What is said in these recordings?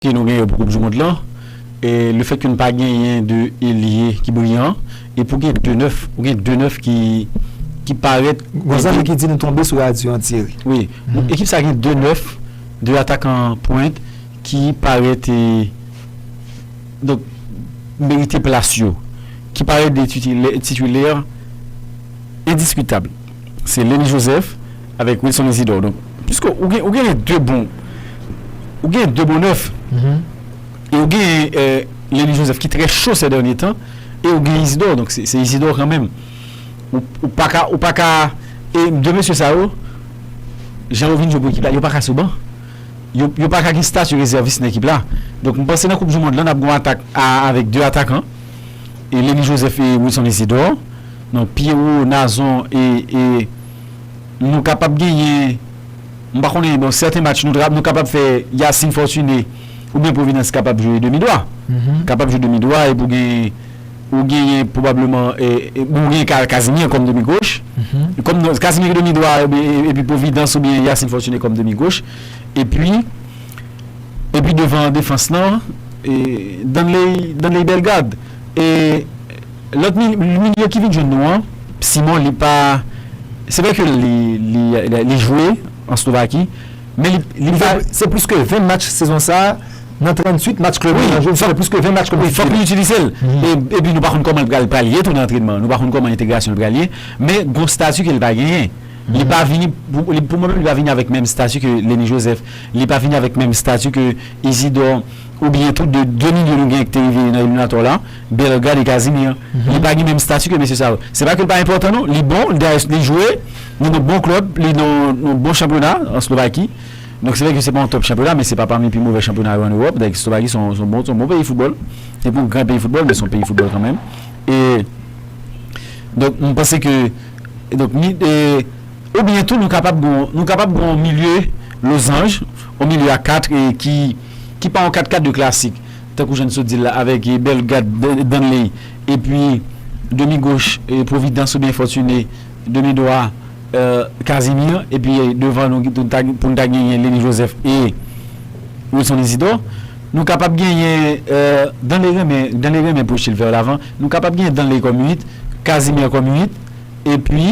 ke nou gen yo pou koup du mond lan e le fèt ke nou pa genyen 2 elye ki briyan e pou gen 2 nèf ou gen 2 nèf ki ki parèt Gon zanmi ki di nou tonbe sou radyo an Thierry. Wi, ekip sa gen 2 nèf, 2 atakan pwent ki parèt e donk merite plas yo, ki parèt de titulè, titulaire, endiskutab. Se Lenny Joseph avèk Wilson Isidore. Donk, piske ou gen, ou genyen 2 bon, ou genyen 2 bon nèf. E ou genyen Lenny Joseph ki trè cho sè dènye tan. E ou genyen Isidore. Donk, se Isidore kanmenm. Ou, ou pa ka, ou pa ka. E 2 mesye sa yo, jan yo vin jwe pou ekip la, yo pa ka sou ban. Yo, yo pa ka gen stati rezèvis nan ekip la. Donk, m panse nan Koup Dimond lan, n ap gen yon atak a avèk 2 atakan. Eleni Joseph e Wilson Isidor non Pierrot Nazon e e nou kapab genyen m pa konnen bon sèten match nou ta nou kapab fè Yacine Fortuné oubyen Providence kapab jwe demi dwa kapab jwe demi dwa epi w gen ou genyen pwobableman e bon ou genyen ka Casimir kòm demi goch kòm non Casimir ki demi dwa epi Providence oubyen Yacine Fortuné kòm demi goch epi Epi devan an defans lan Danley Danley Bellegarde e lòt milye ki vin jwenn nou an Simon li pa se vre ke li li li jwe an Slovaki men li li fè se plis ke 20 match sezon sa nan 38 match klèb li nan jwe li fè plis ke 20 match wi fòk nou itilize l epi nou pa konn kòman l pral pral ye tou nan antrenman nou pa konn kòman entegrasyon l pral ye men gon stati ke l pa genyen li pa vini pou mwen menm li pa vini avèk menm stati ke Lennie Joseph. Li pa vini avèk menm stati ke Izidò oubyen tou de 2 milye nou genyen ki te rive nan eliminatò la, Bellegarde e Casimir. Li pa gen menm stati ke mesye sa yo. Se pa ke li pa enpòtan non, li bon, li jwe nan yon bon klèb, li nan yon bon chanpyona an Slovaki. Donk se vre ke se pa yon tòp chanpyona men se pa pami pi move chanpyona yo an Ewòp. Donk Slovaki se yon bon peyi foutbòl. Se pa yon gran peyi foutbòl men se yon peyi foutbòl kanmenm. E donk m panse ke donk ni e. Oubyen tou nou kapab gen yon, nou kapab gen yon milye lozanj, yon milye a 4 e ki, ki pa yon 4 ka 2 klasik, tankou jan n sot di l la, avèk e Bellegarde, Dan, Danley, epi demi goch e Providence oubyen Fortuné, demi dwa è Casimir, epi devan nou nou ta, pou n ta genyen Lennie Joseph e Wilson Isidore. Nou kapab genyen è Danley renmen, Danley renmen pwoche l vè lavan, nou kapab genyen Danley kòm 8, Casimir kòm 8, epi.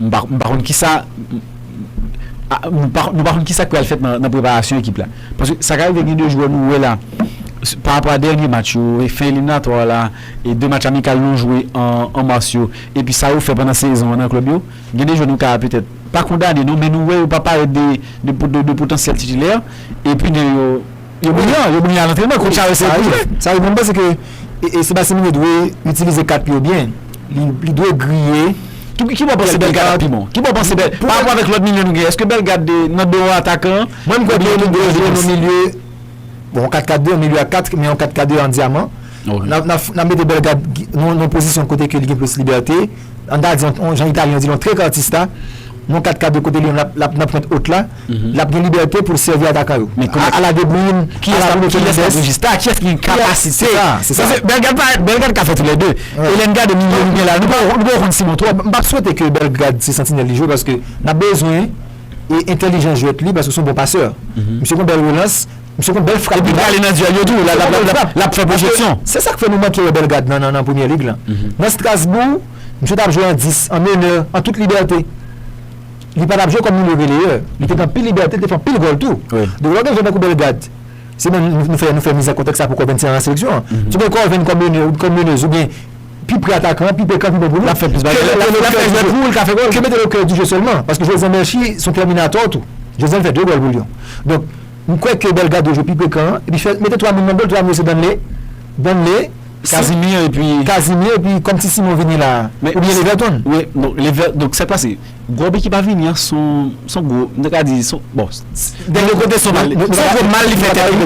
Nou pa konn kisa k pral fèt nan preparasyon ekip la. Paske sa ka rive gen 2 jwè nou wè la pa rapò a dènye match yo, fen eliminatwa yo la, 2 match amikal nou jwe an mas yo epi sa yo fè pandan sezon an nan klèb yo. Gen 2 jwè nou ka petèt pa kondane non men nou wè yo pa parèt de potansyèl titilè epi gen yo. Yo briyan, yo briyan a lantrenman, kouch a yo se pou jwe. Sa vle di mwen panse ke Sébastien Migne dwe itilize kat li yo byen. Li dwe griye. Ki bo w panse Bellegarde ap pi bon? Ki bo w panse Bellegarde? Pa rapò avèk lòt milye nou gen, èske Bellegarde nan do yon atakan? Mwen m kwè ke li dwe jwe nan milye, bon 4-4-2, milye a 4, men yon 4-4-2 an dyaman. N ap mete Bellegarde nan yon pozisyon kote ke li gen plis libète. An ta di, an jan Italyen yo di l, yon trekartista, yon 4 ka 2 kote li menm l ap nan pwent wot la, l ap gen libète pou l sèvi atakan yo. Ala De Bruyne, ala Bruno Fernandes. Kiyès k ap rejista? Kiyès ki gen kapasite? Se sa, se sa. Paske Belgrad ka fè tou lè 2. E lè n gade milye nou gen la, nou pa ko konn Simon twòp. M p ap swete ke Belgrad se santinèl li jwe paske n ap bezwen entèlijans jwèt li paske se yon bon pasè. Misye gen yon bèl relans. Misye konn bèl frap. Epi li ale nan dyèl yo tou, l ap fè pwojeksyon. Se sa k fè nou manke wè Bellegarde nan Premier League lan. Nan Strasbourg, misye t ap jwe an 10, an menè, an tout libète. Li pa t ap jwe kòm milieu relayeur. Li te gen anpil libète, li te fè anpil gòl tou. Donk lè w gen jwè tankou Bellegarde, se menm nou fè nou fè mizè kontèks sa pou Corven se nan seleksyon an. Si w gen Corven kòm menè ou kòm meneuse ou byen pi pre atakan an, pi pre kan pi bon pou nou. L ap fè plis bagay. L ap fè jwèt pou ou, l ka fè gòl. Ke mete l au cœur du jeu sèlman. Paske jwè Zan Mershie s on terminator tou. Jwè Zan fè 2 gòl pou Lyon. Donk. M kwè ke Delgado jwe pi pre kan an epi fè mete 3 moun nan gòl, 3 moun yo se Danley, Danley, Casimir epi Casimir epi kòm ti Simon vini la a ou byen Leverton. Wi donk Lever donk sa k pase gòb ekip a vini an son son gwo m ta ka di son bon s Dèn yon kote son mal li son gwo mal li fè tèt li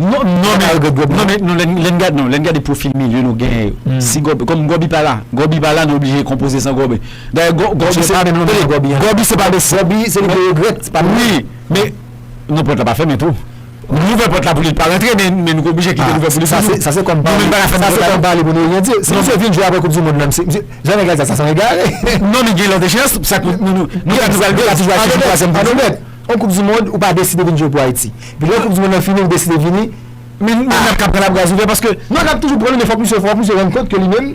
non non non men non men non lè n lè n gad non lè n gade pwofil milye nou genyen yo si gòb kòm gòbi pa la gòbi pa la nou oblije konpoze san gòbi. Dayè Gòbi se pa menm lòm nan Gòbi an. Gòbi se pa menm. Gòbi se li te regrèt se pa menm. Wi men non pòt la pa fèmen tou. Nou ouvè pòt la pou li pa rantre men nou te oblije kite l ouvè pou li. Sa se sa se kòm pale. Nou menm pa ka fèmen pòt la. Sa se kòm pale pou nou oryante. Si misye vin jwe aprè koup di mond lan misye jan nèg la di sa sa sanble egare. Non men gen lòt echeyans sa k nou nou nou ka nou pral jwe atijou atijou twazyèm koup di mond. Anobèt yon koup di mond ou pa deside vin jwe pou Ayiti. Epi lè koup di mond lan fini ou deside vini. Men nap ka pran la bras ouvè paske. Non nap toujou pran li men fòk misye fò misye rann kont ke li menm.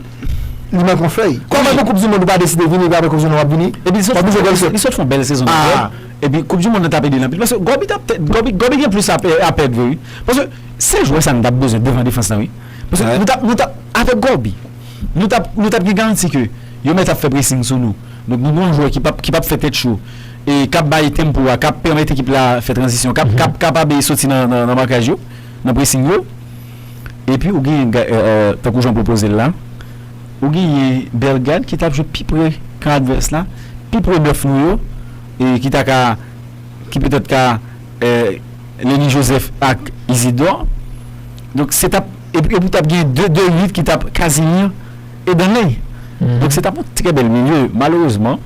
li manke yon fèy. Kòman pou koup di mond ou pa deside vini epi aprè koup di mond wap vini? Epi li sot fon li sot fon bèl sezon nan klèb epi koup di mond nan tap edel anpil paske Gòbi tap tè Gòbi Gòbi gen plis a pèd vre wi paske se jwè sa nou tap bezwen devan defans lan wi paske nou tap nou tap avèk Gòbi nou tap nou tap gen garanti ke yo mèt ap fè presing sou nou donk nou gen yon jwè ki pap ki pap fè tèt cho e kap bay tempo a kap pèmèt ekip la fè tranzisyon kap kap kapab e soti nan nan makaj yo nan presing yo. Epi ou genyen tankou jan w pwopoze l la, ou genyen Bellegarde ki t ap jwe pi pre kan advès la, pi pre bèf nou yo e ki ta ka, ki petèt ka Lennie Joseph ak Isidor. Donk se t ap, epi ou t ap gen 2 de 8 ki t ap Casimir e Danley. Donk se t ap yon trè bèl milye. Malerezman,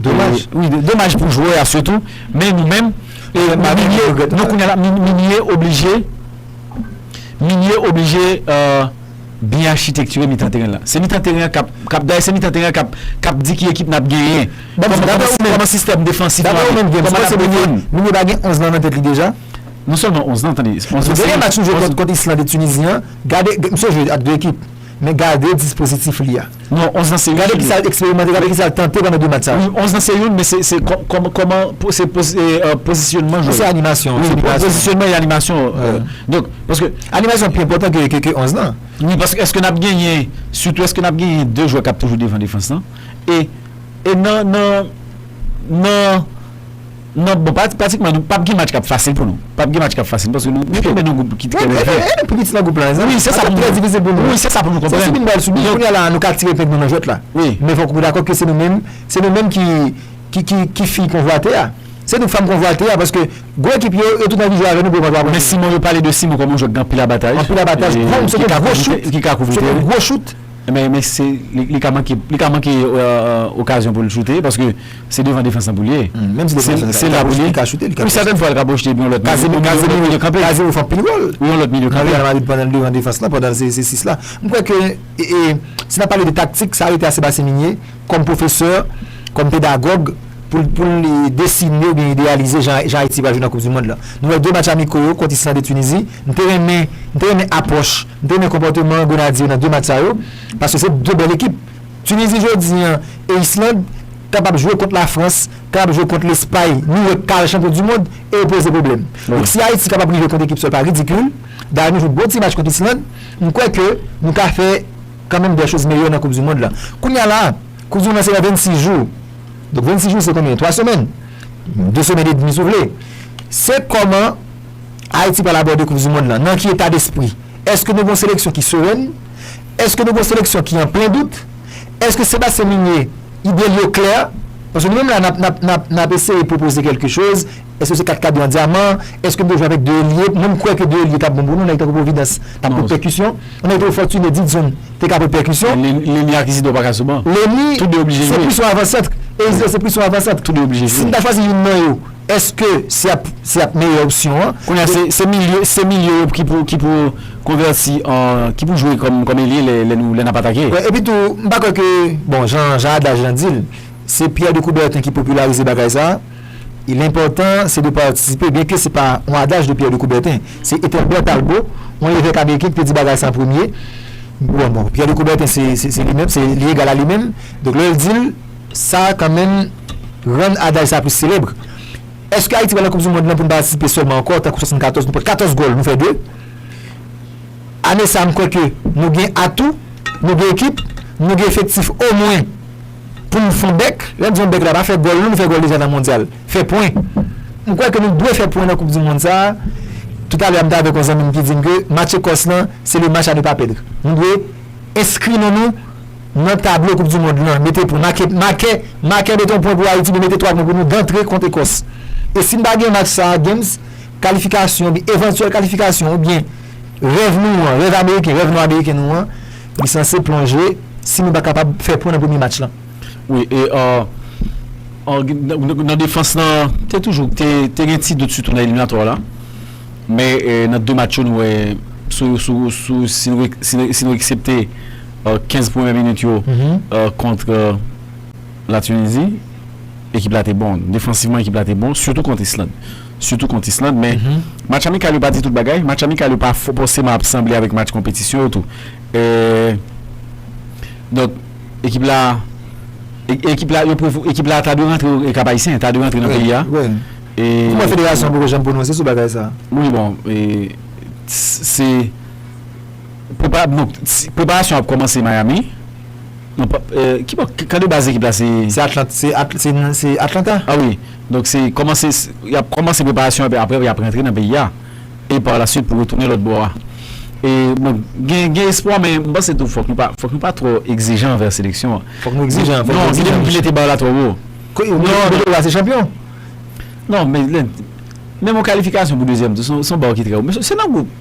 domaj, wi domaj pou jwè a sitou men nou menm, milye, non kounye a la milye oblije. Milye oblije byen achitektire mitan teren la. Se mitan teren an k ap, dayè se mitan teren an k ap di ki ekip n ap genyen, kòman sistèm defansif nou ap jwe, kòman n ap defann. Milye pa gen 11 lan nan tèt li deja? Non sèlman 11 lan, tande. Dènye match nou jwe kont Islande, Tunizi an, gade, misye jwe ak 2 ekip. Men gade dispozitif li a. Non, 11 nan se youn. Gade ki sa l eksperimante, gade ki sa l tante pandan 2 match sa yo. Wi, 11 nan se youn, men se kòman se pozisyonman jwè. Non, se animasyon. Wi, se pozisyonman e animasyon. Donk, paske. Animasyon pi enpòtan ke 11 nan. Wi, paske èske n ap genyen, sitou èske n ap genyen 2 jwè k ap toujou devan defans lan? E nan. Nan bon pratikman nou pap gen match kap fasil pou nou pap gen match kap fasil paske nou tonbe nan gwoup ki trè lèje e nou pi piti nan gwoup la wi se sa pou nou konprann se sibi nou pral sibi kounya la nou ka tire epeng nou nan jwèt la wi men fòk ou dakò ke se nou menm se nou menm ki ki ki fi konvwate a se nou fanm konvwate a paske gwo ekip yo yo tout anvi jwe avè nou pou yo pa kapab men Simon yo pale de Simon kòm yon jwè ki gen anpil abataj anpil abataj ki ka kouvri teren se yon gwo chout. Enben, men se, li ka manke, li ka manke okazyon pou l choute, paske se devan defans lan pou l ye. Menm si defans lan se la pou l ye, li ka choute, li ka pwojte. Wi, sètèn fwa li ka pwojte epi yon lòt milye, Kazemiro jwe kanpe. Kazemiro fè anpil wòl. Wi, yon lòt milye kanpe. Nan Real Madrid pandan l devan defans lan, pandan l se 6 la. M kwè ke, si n ap pale de taktik, sa rete a Sébastien Migné, kòm pwofesè, kòm pedagòg, pou l, pou l desine oubyen ideyalize jan Ayiti pral jwe nan Koupdimonn lan. Nou wè 2 match amiko yo kont Island e Tunizi, m te renmen, m te renmen apwòch. M te renmen konpòteman Grenadye yo nan 2 match sa yo paske se 2 bèl ekip. Tunizi jodi an e Island kapab jwe kont Lafrans, kapab jwe kont Lespay, nou wè kal chanpyon du mond e yo poze pwoblèm. Donk si Ayiti kapab rive kont ekip sa yo pa ridikil. Dayè nou jwe bon ti match kont Island, m kwè ke nou ka fè kanmenm dè choz meyè nan koup du mond la. Kounye a la, koup du mond la se nan 26 jou. Donk 26 jou se konbyen? 3 semèn? 2 semèn edmi si w vle. Se kòman. Ayiti pral abòde koup du mond lan nan ki eta despri? Eske nou gen yon seleksyon ki serèn? Eske nou gen yon seleksyon ki an plen dout? Eske Sebastien Migné ide l yo klè? Paske nou menm la n ap eseye pwopoze kèlke choz, eske se 4 kadran dyaman? Eske n dwe jwe avèk 2 elye? Mwen m kwè ke 2 elye t ap bon pou nou, nèg tankou Providence t ap pot pèkisyon, yon nèg tankou Fortuné Didson te ka pot pèkisyon. Lenny ak Isidor pa ka sou ban. Lenny se plis yon avansantr e Isidor se plis yon avansantr. Si n ta chwazi youn nan yo. Eske se ap se ap meyè opsyon an? Kounye a se milye se milye yo ki pou ki pou konvèti an ki pou jwe kòm kòm elye lè lè nou lè n ap atake. Wi epi tou m pa kwè ke bon jan jan adaj lan di l se Pierre de Coubertin ki popilarize bagay sa l enpòtan se de patisipe byen ke se pa yon adaj de Pierre de Coubertin se Ethelbert Talbot yon evèk ameriken ki te di bagay sa an premye bon bon Pierre de Coubertin se se li menm se li egal a li menm donk lè l di l Sa a kanmenm rann adaj sa a plis selebre. Èske Ayiti pral nan koup di mond lan pou n patisipe sèlman ankò tankou 74 nou pran 14 gòl nou fè 2? Ane sa a m kwè ke nou gen atou, nou gen ekip, nou gen efektif omwen pou n fon bèk. Lè m di fon bèk la pa fè gòl non nou fè gòl deja nan mondyal. Fè pwen. M kwè ke nou dwe fè pwen nan koup di mond sa a. Toutalè a m te avèk yon zanmi m ki di m ke match Ekòs lan se le match a ne pas perdre. Nou dwe enskri non nou. Nan tablo koup du mond lan mete pwen make make make mete yon pwen pou ayiti men mete 3 pwen pou nou dantre kont ekòs e si n pa gen match sa games kalifikasyon oubyen evantyèl kalifikasyon oubyen rèv nou an rèv ameriken rèv nò ameriken nou an li sanse plonje si nou pa kapab fè pwen nan premye match lan. Wi e ahh nan defans lan te toujou te gen ti dout sitou nan eliminatwa la men nan 2 match yo nou wè sou sou si nou eksepte 15 premye minit yo kont la Tunizi ekip la te bon, defansivman ekip la te bon sitou kont Island sitou kont Island men match amikal yo pa di tout bagay match amikal yo pa fòseman ap sanble avèk match konpetisyon yo tou donk ekip la ekip la ekip la ta dwe rantre e kap ayisyen ta dwe rantre nan peyi a kouman federasyon poko janm pwononse sou bagay sa wi bon se Preparasyon ap kòmanse Miami. Kade baz ekip la se. Se Atlanta. A wi. Donk se kòmanse, y ap kòmanse preparasyon epi aprè y ap rantre nan peyi a. E par la swit pou retounen lòt bò a. E bon, gen espwa men m panse tou fòk nou pa twò egzijan anvè seleksyon an. Fòk nou egzijan. Non, gen ekip ki mete bar la twò wo. Kote la se chanpyon. Non, men yon kalifikasyon pou dezyèm tou, se yon bar ki trè wo. Men se nan gwoup.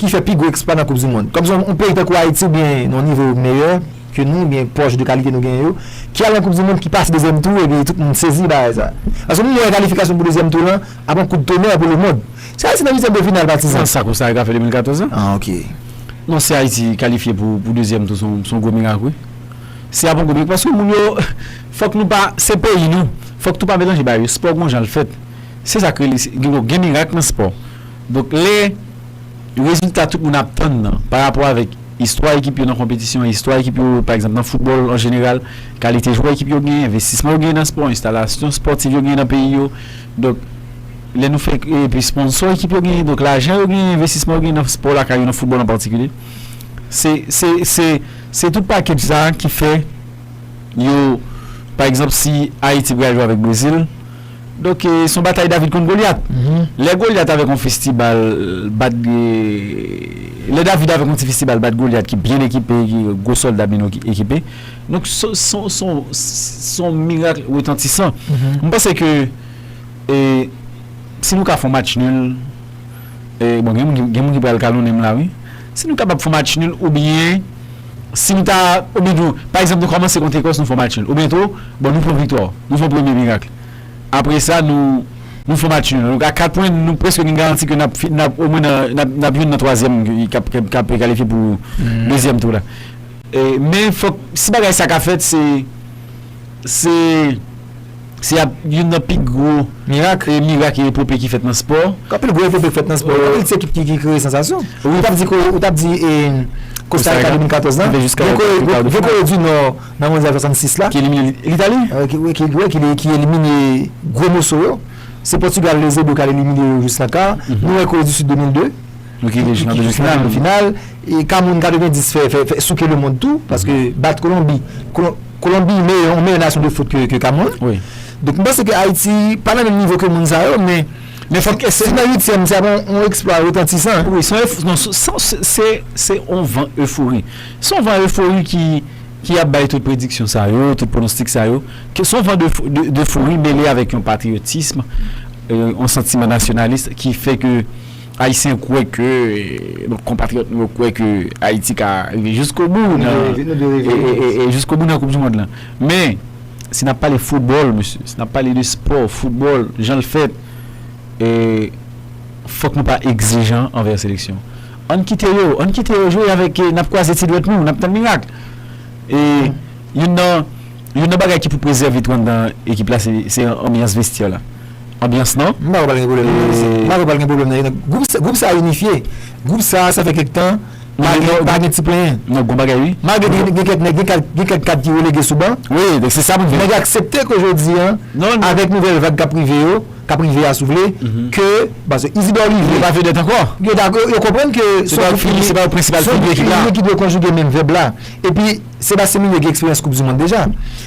ki fè pi gwo eksplwa nan koup dimond. Kòm se yon peyi tankou Ayiti oubyen yon nivo meyè ke nou oubyen pwòch de kalite nou genyen yo ki al nan koup dimond ki pase dezyèm tou epi tout moun sezi de bagay sa. Paske nou wè kalifikasyon pou dezyèm tou lan ap yon kout tonè pou lemond. Si Ayiti nan uityèm de final patizan. Nan sa Kosta Rika fè 2014 la? Ah ok. Non si Ayiti kalifye pou dezyèm tou son gwo mirak wi. Se ap yon gwo mirak paske moun yo fòk nou pa se peyi nou fòk tou pa melanje bagay yo. Spò gon jan l fèt. Se sa k rele gen mirak nan spò. Donk lè rezilta tout moun ap tann nan pa rapò avèk istwa ekip yo nan konpetisyon, istwa ekip yo pa egzanp nan foutbòl an jeneral, kalite jwè ekip yo genyen, envestisman yo genyen nan spò, enstalasyon spòtiv yo genyen nan peyi yo, donk lè nou fè epi sponsò ekip yo genyen, donk lajan yo genyen, envestisman yo genyen nan spò lakay yo, nan foutbòl an patikilye. Se, se, se, se tout pakèj sa a ki fè yo pa egzanp si Ayiti pral jwe avèk Brezil, Donk, se yon batay David kont Golyat. Lè Golyat avèk yon festibal bat, lè David avèk yon ti festibal bat Golyat ki byen ekipe, ki gen gwo sòlda byen ekipe. Donk, se yon mirak retantisan. Mwen panse ke si nou ka fè yon match nul, bon gen moun ki pral kalonnen m la wi. Si nou kapab fè yon match nul oubyen si nou ta oubyen nou pa egzanp nou kòmanse kont Lekòs nou fè yon match nul oubyen tou bon nou pran viktwa nou fè yon premye mirakl apre sa nou nou fè yon match nul a 4 pwen nou prèske gen garanti ke nap fin nap omwen nan nap nap jwenn nan twazyèm kap kap kalifye pou dezyèm tou la men fòk si bagay sa ka fèt se. Se Se ap youn nan pi gwo. Mirak e mirak e epope ki fèt nan spò. Anpil gwo epope fèt nan spò. Anpil ti ekip ki kreye sansasyon. Ou t ap di Ou t ap di e Kosta Rika 2014 lan. Gen Kore gen Kore di Nò nan mondyal 66 la. Ki elimine Litali. Wi ki wi ki elimine gwo moso yo. Se Pòtigal Eusebio k al elimine yo jis la ka. Nou wè Kore di Sid 2002. Nou kite jis nan demi final. Kameroun 90 fè souke lemond tou paske bat Kolonbi. Kolonbi yon meyè nasyon de foot ke Kameroun. Donk m panse ke Ayiti pa nan menm nivo ke moun sa yo men si nan uityèm se ap yon eksplwa retantisan. Wi se yon van efori. Se yon van efori ki ap bay tout prediksyon sa yo, tout pronostik sa yo. Se yon van efori mele avèk yon patriyotism, yon santiman nasyonalis ki fè ke. Ayisyen kwè ke, bon konpatriyòt nou yo kwè ke Ayiti ka rive jiskobou nan, jiskobou nan koup di mond lan. Men, si n ap pale foutbòl mesye, si n ap pale de spò, foutbòl, jan l fèt, fòk nou pa egzijan anvè seleksyon. Ann kite yo, ann kite yo jwe avèk, n ap kwaze ti dwèt nou, n ap tann mirak. E youn nan, youn nan bagay ki pou prezève twant dan ekip la se anbyans vestyè la. Anbyans nan e. M pa kwè pral gen pwoblèm nan e. M pa kwè pral gen pwoblèm nan e nan. Gwoup sa a inifye. Gwoup sa a, sa fè kèk tan, pa gen ti plenyen. Non, gon bagay wi. Malgre gen kèk nèg, gen kèk kad ki relege sou ban. Wi, donk se sa pou m di. Nèg yo aksepte ke jodi a, avèk nouvèl vag k ap rive yo, k ap rive a si w vle, ke paske Isidò Rive. Yo pa vedèt ankò. Yo dakò, yo konprann ke. Se pa yo prensipal figi ekip la. Se pa yo ki dwe konjige menm vèb la. Epi Sebastien Migné gen eksperyans koupdimonn deja.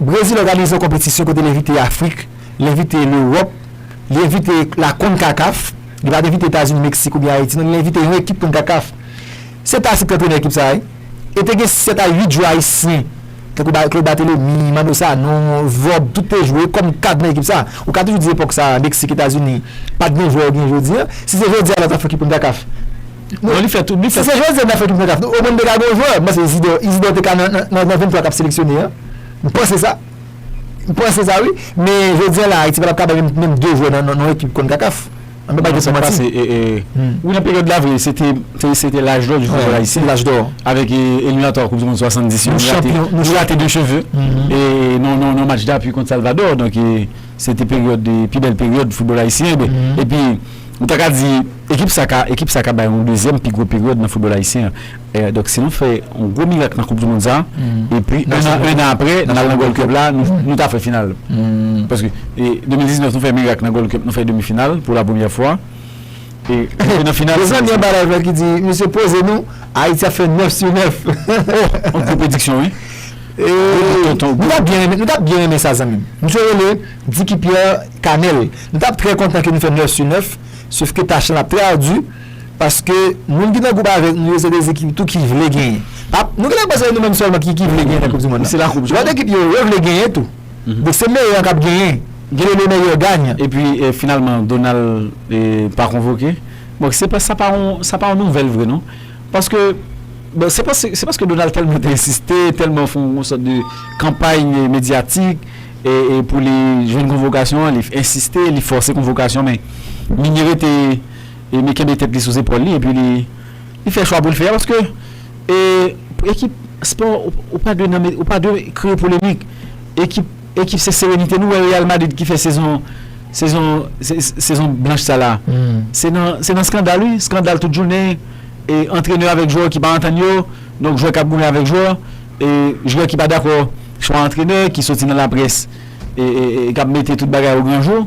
Brezil òganize yon konpetisyon kote l envite Afrik, l envite Lewòp, li envite la Concacaf, li pa t envite Etazini, Meksik oubyen Ayiti non, li envite yon ekip Concacaf. Se pa Afrik ki antrenè ekip sa a wi. E te gen 7 a 8 jwè ayisyen tankou ba Claude Barthelemy, Manno Sanon, Vob, tout te jwe kòm kad nan ekip sa a. Ou ka toujou di epòk sa a Meksik, Etazini pa t gen jwè yo gen jodi an. Si se jodi a lòt Afrik ki Concacaf. Non li fè tout, li fè. Si se José nan fè tout kontaf nou, omwen nou te ka gen yon jwè, mpanse Izidor, Izidor te ka nan nan 23 kap seleksyone an. Mpanse sa. Mpanse sa wi. Men jodi an la Ayiti patap kapab gen menm 2 jwè nan nan yon ekip konkakaf. An nou pa gen pou manti. Wi nan peryòd la vre se te se te laj dò di foutbòl ayisyen. Laj dò. Avèk eliminatwa koup di mond 70 yo nou rate nou rate de cheve e nan nan nan match dapui kont Salvador donk se te peryòd pi bèl peryòd foutbòl ayisyen epi Nou ta ka di ekip sa ka ekip sa ka bay yon dezyèm pi gwo peryòd nan foutbòl ayisyen an. Donk si nou fè yon gwo mirak nan koup di mond sa epi un an un an aprè n al nan gold cup la nou ta fè final. Paske 2019 nou fè mirak nan gold cup nou fè demi final pou la premyè fwa e rive nan final. Gen zanmi anba live la ki di mesye poze nou Ayiti ap fè 9 su 9. Oh yon gwo prediksyon wi. Nou ta byen renmen sa zanmi m. Misye rele. Dicky Pierre Canel, Nou tap trè kontan ke nou fè 9 su 9, sofke tach lan ap trè ardu, paske moun ki nan gwoup avèk nou yo se des ekip tou ki vle genyen. Pa, nou genlè panse se nou menm sèlman ki ki vle genyen nan koup du mond lan. Lòt ekip yo, yo vle genyen tou. Donk se meyè an kap genyen. Genlè le meilleur gagne. Epi finalman Donald pa konvoke. Bon se pa sa pa yon sa pa yon nouvèl vre non. Paske bon se pa se paske Donald tèlman te ensiste, tèlman fon yon sòt de kanpay medyatik. E pou li jwenn konvokasyon an, li ensiste, li fòse konvokasyon men Migné rete e mi kenbe tèt li sou zepòl li epi li fè chwa pou l fè a paske pou ekip spò ou pa dwe nan ou pa dwe kreye polemik ekip ekip se serenite nou wè Real Madrid ki fè sezon sezon sezon blanch sa la se nan se nan skandal wi skandal tout jounen e antrenè avèk jwè ki pa antann yo donk jwè k ap goumen avèk jwè. Jwè ki pa dakò chwa antrenè ki soti nan laprès e kap mete tout bagay o gran jou.